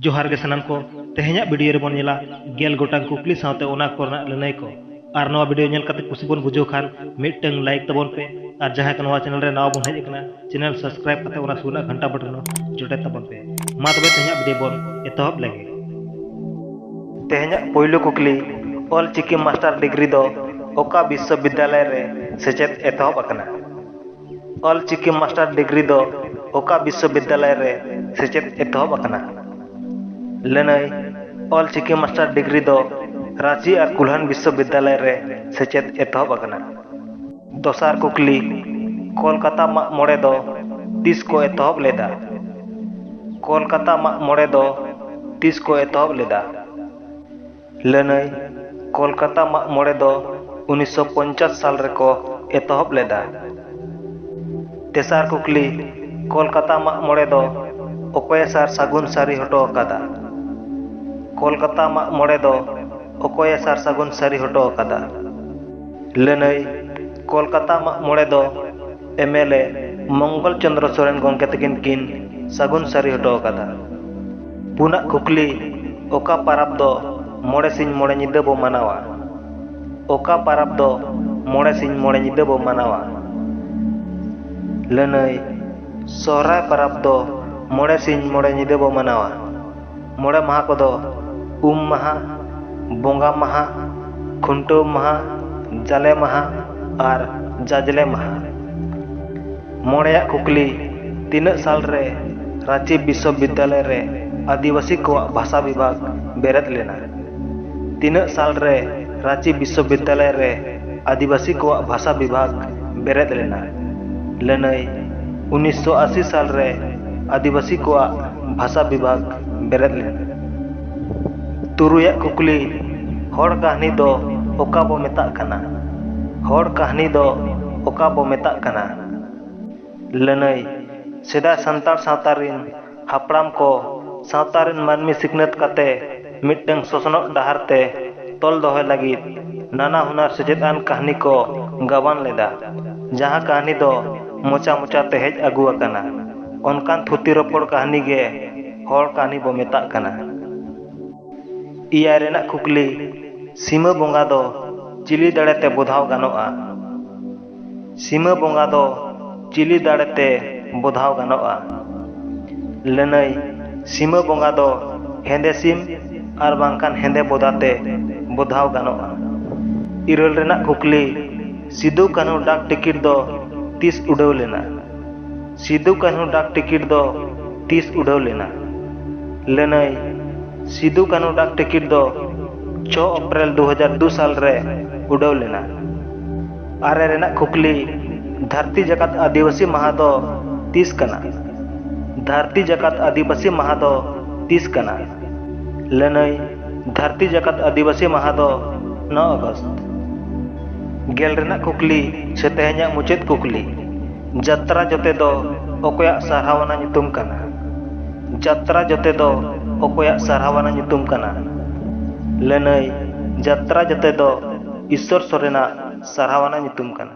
ᱡᱚᱦᱟᱨ ᱜᱮ ᱥᱟᱱᱟᱢ ᱠᱚ ᱛᱮᱦᱮᱧᱟᱜ ᱵᱷᱤᱰᱤᱭᱳ ᱨᱮᱵᱚᱱ ᱧᱮᱞᱟ ᱜᱮᱞ ᱜᱚᱴᱟᱝ ᱠᱩᱠᱞᱤ ᱥᱟᱶᱛᱮ ᱚᱱᱟ ᱠᱚᱨᱮᱱᱟᱜ ᱞᱟᱹᱱᱟᱹᱭ ᱠᱚ ᱟᱨ ᱱᱚᱣᱟ ᱵᱷᱤᱰᱤᱭᱳ ᱧᱮᱞ ᱠᱟᱛᱮ ᱠᱩᱥᱤ ᱵᱚᱱ ᱵᱩᱡᱷᱟᱹᱣ ᱠᱷᱟᱱ ᱢᱤᱫᱴᱟᱝ ᱞᱟᱭᱤᱠ ᱛᱟᱵᱚᱱ ᱯᱮ ᱟᱨ ᱡᱟᱦᱟᱸᱭ ᱠᱚ ᱱᱚᱣᱟ ᱪᱮᱱᱮᱞ ᱨᱮ ᱱᱟᱣᱟ ᱵᱚᱱ ᱦᱮᱡ ᱟᱠᱟᱱᱟ ᱪᱮᱱᱮᱞ ᱥᱟᱵᱥᱠᱨᱟᱭᱤᱵ ᱠᱟᱛᱮ ᱚᱱᱟ ᱥᱩᱨ ᱨᱮᱱᱟᱜ ᱜᱷᱟᱱᱴᱟ ᱵᱚᱴᱚᱱ ᱡᱚᱴᱮᱫ ᱛᱟᱵᱚᱱ ᱯᱮ ᱢᱟ ᱛᱚᱵᱮ ᱛᱮᱦᱮᱧᱟᱜ ᱵᱷᱤᱰᱤᱭᱳ ᱵᱚᱱ ᱮᱛᱚᱦᱚᱵ ᱞᱮᱜᱮ ᱛᱮᱦᱮᱧᱟᱜ ᱯᱳᱭᱞᱳ ᱠᱩᱠᱞᱤ ᱚᱞ ᱪᱤᱠᱤ ᱢᱟᱥᱴᱟᱨ ᱰᱤᱜᱽᱨᱤ ᱫᱚ ᱚᱠᱟ ᱵᱤᱥᱥᱚᱵᱤᱫᱽᱫᱟᱞᱚᱭ ᱨᱮ ᱥᱮᱪᱮᱫ ᱮᱛᱚᱦᱚᱵ ᱟᱠᱟᱱᱟ ᱚᱞ ᱪᱤᱠᱤ ᱢᱟᱥᱴᱟᱨ ᱰᱤᱜᱽᱨᱤ ᱫᱚ ᱚᱠᱟ ᱵᱤᱥᱥᱚ ᱵᱤᱫᱽᱫᱟᱞᱚᱭ ᱨᱮ ᱥᱮᱪᱮᱫ ᱮᱛᱚᱦᱚᱵ ᱟᱠᱟᱱᱟ? ᱞᱟᱹᱱᱟᱹᱭ, ᱚᱞ ᱪᱤᱠᱤ ᱢᱟᱥᱴᱟᱨ ᱰᱤᱜᱽᱨᱤ ᱫᱚ ᱨᱟᱺᱪᱤ ᱟᱨ ᱠᱩᱞᱦᱟᱱ ᱵᱤᱥᱥᱚ ᱵᱤᱫᱽᱫᱟᱞᱚᱭ ᱨᱮ ᱥᱮᱪᱮᱫ ᱮᱛᱚᱦᱚᱵ ᱟᱠᱟᱱᱟ᱾ ᱫᱚᱥᱟᱨ ᱠᱩᱠᱞᱤ, ᱠᱚᱞᱠᱟᱛᱟ ᱢᱟᱜ ᱢᱚᱬᱮ ᱫᱚ ᱛᱤᱥ ᱠᱚ ᱮᱛᱚᱦᱚᱵ ᱞᱮᱫᱼᱟ? ᱠᱚᱞᱠᱟᱛᱟ ᱢᱟᱜ ᱢᱚᱬᱮ ᱫᱚ ᱛᱤᱥ ᱠᱚ ᱮᱛᱚᱦᱚᱵ ᱞᱮᱫᱼᱟ? ᱞᱟᱹᱱᱟᱹᱭ, ᱠᱚᱞᱠᱟᱛᱟ ᱢᱟᱜᱢᱚᱬᱮ ᱫᱚ ᱩᱱᱤᱥ ᱥᱚ ᱯᱚᱧᱪᱟᱥ ᱥᱟᱞ ᱨᱮ ᱠᱚ ᱮᱛᱚᱦᱚᱵ ᱞᱮᱫᱟ᱾ ᱛᱮᱥᱟᱨ ᱠᱩᱠᱞᱤ, ᱠᱚᱞᱠᱟᱛᱟ ᱢᱟᱜᱢᱚᱬᱮ ᱫᱚ ᱚᱠᱚᱭᱮ ᱥᱟᱨ ᱥᱟᱹᱜᱩᱱ ᱥᱟᱹᱨᱤ ᱦᱚᱴᱚ ᱟᱠᱟᱫᱟ? ᱠᱚᱞᱠᱟᱛᱟ ᱢᱟᱜᱢᱚᱬᱮ ᱫᱚ ᱚᱠᱚᱭᱮ ᱥᱟᱨ ᱥᱟᱹᱜᱩᱱ ᱥᱟᱹᱨᱤ ᱦᱚᱴᱚ ᱟᱠᱟᱫᱟ? ᱞᱟᱹᱱᱟᱹᱭ, ᱠᱚᱞᱠᱟᱛᱟ ᱢᱟᱜᱢᱚᱬᱮ ᱫᱚ ᱮᱢᱮᱞᱮ ᱢᱚᱝᱜᱚᱞ ᱪᱚᱱᱫᱽᱨᱚ ᱥᱚᱨᱮᱱ ᱜᱚᱢᱠᱮ ᱛᱟᱹᱠᱤᱱ ᱠᱤᱱ ᱥᱟᱹᱜᱩᱱ ᱥᱟᱹᱨᱤ ᱦᱚᱴᱚ ᱟᱠᱟᱫᱟ᱾ ᱯᱩᱱᱟᱜ ᱠᱩᱠᱞᱤ ᱚᱠᱟ ᱯᱟᱨᱟᱵᱽ ᱫᱚ ᱢᱚᱬᱮ ᱥᱤᱧ ᱢᱚᱬᱮ ᱧᱤᱫᱟᱹ ᱵᱚ ᱢᱟᱱᱟᱣᱟ? ᱚᱠᱟ ᱯᱟᱨᱟᱵᱽ ᱫᱚ ᱢᱚᱬᱮ ᱥᱤᱧ ᱢᱚᱬᱮ ᱧᱤᱫᱟᱹ ᱵᱚ ᱢᱟᱱᱟᱣᱟ? ᱞᱟᱹᱱᱟᱹᱭ, ᱥᱚᱦᱨᱟᱭ ᱯᱟᱨᱟᱵᱽ ᱫᱚ ᱢᱚᱬᱮ ᱥᱤᱧ ᱢᱚᱬᱮ ᱧᱤᱫᱟᱹ ᱵᱚ ᱢᱟᱱᱟᱣᱟ᱾ ᱢᱚᱬᱮ ᱢᱟᱦᱟᱸ ᱠᱚᱫᱚ ᱩᱢ ᱢᱟᱦᱟᱸ, ᱵᱚᱸᱜᱟ ᱢᱟᱦᱟᱸ, ᱠᱷᱩᱱᱴᱟᱹᱣ ᱢᱟᱦᱟᱸ, ᱡᱟᱞᱮ ᱢᱟᱦᱟᱸ ᱟᱨ ᱡᱟᱡᱽᱞᱮ ᱢᱟᱦᱟᱸ᱾ ᱢᱚᱬᱮᱭᱟᱜ ᱠᱩᱠᱞᱤ, ᱛᱤᱱᱟᱹᱜ ᱥᱟᱞ ᱨᱮ ᱨᱟᱺᱪᱤ ᱵᱤᱥᱥᱚᱵᱤᱫᱽᱭᱟᱞᱚᱭ ᱨᱮ ᱟᱹᱫᱤᱵᱟᱹᱥᱤ ᱠᱚᱣᱟᱜ ᱵᱷᱟᱥᱟ ᱵᱤᱵᱷᱟᱜᱽ ᱵᱮᱨᱮᱫ ᱞᱮᱱᱟ? ᱛᱤᱱᱟᱹᱜ ᱥᱟᱞ ᱨᱮ ᱨᱟᱺᱪᱤ ᱵᱤᱥᱥᱚᱵᱤᱫᱽᱭᱟᱞᱚᱭ ᱨᱮ ᱟᱹᱫᱤᱵᱟᱹᱥᱤ ᱠᱚᱣᱟᱜ ᱵᱷᱟᱥᱟ ᱵᱤᱵᱷᱟᱜᱽ ᱵᱮᱨᱮᱫ ᱞᱮᱱᱟ? ᱞᱟᱹᱱᱟᱹᱭ, ᱩᱱᱤᱥᱥᱚ ᱟᱥᱤ ᱥᱟᱞ ᱨᱮ ᱟᱹᱫᱤᱵᱟᱹᱥᱤ ᱠᱚᱣᱟᱜ ᱵᱷᱟᱥᱟ ᱵᱤᱵᱷᱟᱜᱽ ᱵᱮᱨᱮᱫ ᱞᱮᱱᱟ᱾ ᱛᱩᱨᱩᱭ ᱟᱜ ᱠᱩᱠᱞᱤ ᱦᱚᱲ ᱠᱟᱹᱦᱱᱤ ᱫᱚ ᱚᱠᱟ ᱵᱚ ᱢᱮᱛᱟᱜ ᱠᱟᱱᱟ? ᱦᱚᱲ ᱠᱟᱹᱦᱱᱤ ᱫᱚ ᱚᱠᱟ ᱵᱚ ᱢᱮᱛᱟᱜ ᱠᱟᱱᱟ? ᱞᱟᱹᱱᱟᱹᱭ ᱥᱮᱫᱟᱭ ᱥᱟᱱᱛᱟᱲ ᱥᱟᱶᱛᱟ ᱨᱤᱱ ᱦᱟᱯᱲᱟᱢ ᱠᱚ ᱥᱟᱶᱛᱟ ᱨᱤᱱ ᱢᱟᱹᱱᱢᱤ ᱥᱤᱠᱷᱱᱟᱹᱛ ᱠᱟᱛᱮ ᱢᱤᱫᱴᱟᱹᱝ ᱥᱚᱥᱱᱚᱜ ᱰᱟᱦᱟᱨ ᱛᱮ ᱛᱚᱞ ᱫᱚᱦᱚᱭ ᱞᱟᱹᱜᱤᱫ ᱱᱟᱱᱟ ᱦᱩᱱᱟᱹᱨ ᱥᱮᱪᱮᱫ ᱟᱱ ᱠᱟᱹᱦᱱᱤ ᱠᱚ ᱜᱟᱵᱟᱱ ᱞᱮᱫᱟ᱾ ᱡᱟᱦᱟᱸ ᱠᱟᱹᱦᱱᱤ ᱫᱚ ᱢᱚᱪᱟ ᱢᱚᱪᱟ ᱛᱮ ᱦᱮᱡ ᱟᱹᱜᱩ ᱟᱠᱟᱱᱟ ᱚᱱᱠᱟᱱ ᱛᱷᱩᱛᱤ ᱨᱚᱯᱚᱲ ᱠᱟᱹᱦᱱᱤ ᱜᱮ ᱦᱚᱲ ᱠᱟᱹᱦᱱᱤ ᱵᱚ ᱢᱮᱛᱟᱜ ᱠᱟᱱᱟ᱾ ᱮᱭᱟᱭ ᱨᱮᱱᱟᱜ ᱠᱩᱠᱞᱤ ᱥᱤᱢᱟᱹ ᱵᱚᱸᱜᱟ ᱫᱚ ᱪᱤᱞᱤ ᱫᱟᱲᱮ ᱛᱮ ᱵᱚᱫᱷᱟᱣ ᱜᱟᱱᱚᱜᱼᱟ? ᱥᱤᱢᱟᱹ ᱵᱚᱸᱜᱟ ᱫᱚ ᱪᱤᱞᱤ ᱫᱟᱲᱮ ᱛᱮ ᱵᱚᱫᱷᱟᱣ ᱜᱟᱱᱚᱜᱼᱟ? ᱞᱟᱹᱱᱟᱹᱭ ᱥᱤᱢᱟᱹ ᱵᱚᱸᱜᱟ ᱫᱚ ᱦᱮᱸᱫᱮ ᱥᱤᱢ ᱟᱨ ᱵᱟᱝᱠᱷᱟᱱ ᱦᱮᱸᱫᱮ ᱵᱚᱫᱟ ᱛᱮ ᱵᱚᱫᱷᱟᱣ ᱜᱟᱱᱚᱜᱼᱟ᱾ ᱤᱨᱟᱹᱞ ᱨᱮᱱᱟᱜ ᱠᱩᱠᱞᱤ ᱥᱤᱫᱩ ᱠᱟᱹᱱᱦᱩ ᱰᱟᱠ ᱴᱤᱠᱤᱴ ᱫᱚ ᱛᱤᱥ ᱩᱰᱟᱹᱣ ᱞᱮᱱᱟ? ᱥᱤᱫᱩ ᱠᱟᱹᱱᱦᱩ ᱰᱟᱠ ᱴᱤᱠᱤᱴ ᱫᱚ ᱛᱤᱥ ᱩᱰᱷᱟᱹᱣ ᱞᱮᱱᱟ? ᱞᱟᱹᱱᱟᱹᱭ, ᱥᱤᱫᱩ ᱠᱟᱹᱱᱦᱩ ᱰᱟᱠ ᱴᱤᱠᱤᱴ ᱫᱚ ᱪᱷᱚ ᱚᱯᱨᱮᱞ ᱫᱩ ᱦᱟᱡᱟᱨ ᱫᱩ ᱥᱟᱞ ᱨᱮ ᱩᱰᱷᱟᱹᱣ ᱞᱮᱱᱟ᱾ ᱟᱨᱮ ᱨᱮᱱᱟᱜ ᱠᱷᱩᱠᱞᱤ, ᱫᱷᱟᱹᱨᱛᱤ ᱡᱟᱠᱟᱛ ᱟᱹᱫᱤᱵᱟᱹᱥᱤ ᱢᱟᱦᱟᱸ ᱫᱚ ᱛᱤᱥ ᱠᱟᱱᱟ? ᱫᱷᱟᱹᱨᱛᱤ ᱡᱟᱠᱟᱛ ᱟᱹᱫᱤᱵᱟᱹᱥᱤ ᱢᱟᱦᱟᱸ ᱫᱚ ᱛᱤᱥ ᱠᱟᱱᱟ? ᱞᱟᱹᱱᱟᱹᱭ, ᱫᱷᱟᱹᱨᱛᱤ ᱡᱟᱠᱟᱛ ᱟᱹᱫᱤᱵᱟᱹᱥᱤ ᱢᱟᱦᱟᱸ ᱫᱚ ᱱᱚ ᱟᱜᱚᱥᱴ᱾ ᱜᱮᱞ ᱨᱮᱱᱟᱜ ᱠᱷᱩᱠᱞᱤ ᱥᱮ ᱛᱮᱦᱮᱧᱟᱜ ᱢᱩᱪᱟᱹᱫ ᱠᱩᱠᱞᱤ᱾ ᱡᱟᱛᱨᱟ ᱡᱚᱛᱮ ᱫᱚ ᱚᱠᱚᱭᱟᱜ ᱥᱟᱨᱦᱟᱣᱟᱱᱟ ᱧᱩᱛᱩᱢ ᱠᱟᱱᱟ? ᱡᱟᱛᱨᱟ ᱡᱚᱛᱮ ᱫᱚ ᱚᱠᱚᱭᱟᱜ ᱥᱟᱨᱦᱟᱣᱟᱱᱟ ᱧᱩᱛᱩᱢ ᱠᱟᱱᱟ? ᱞᱟᱹᱱᱟᱹᱭ, ᱡᱟᱛᱨᱟ ᱡᱚᱛᱮ ᱫᱚ ᱤᱥᱥᱚᱨ ᱥᱚᱨᱮᱱᱟᱜ ᱥᱟᱨᱦᱟᱣᱟᱱᱟ ᱧᱩᱛᱩᱢ ᱠᱟᱱᱟ᱾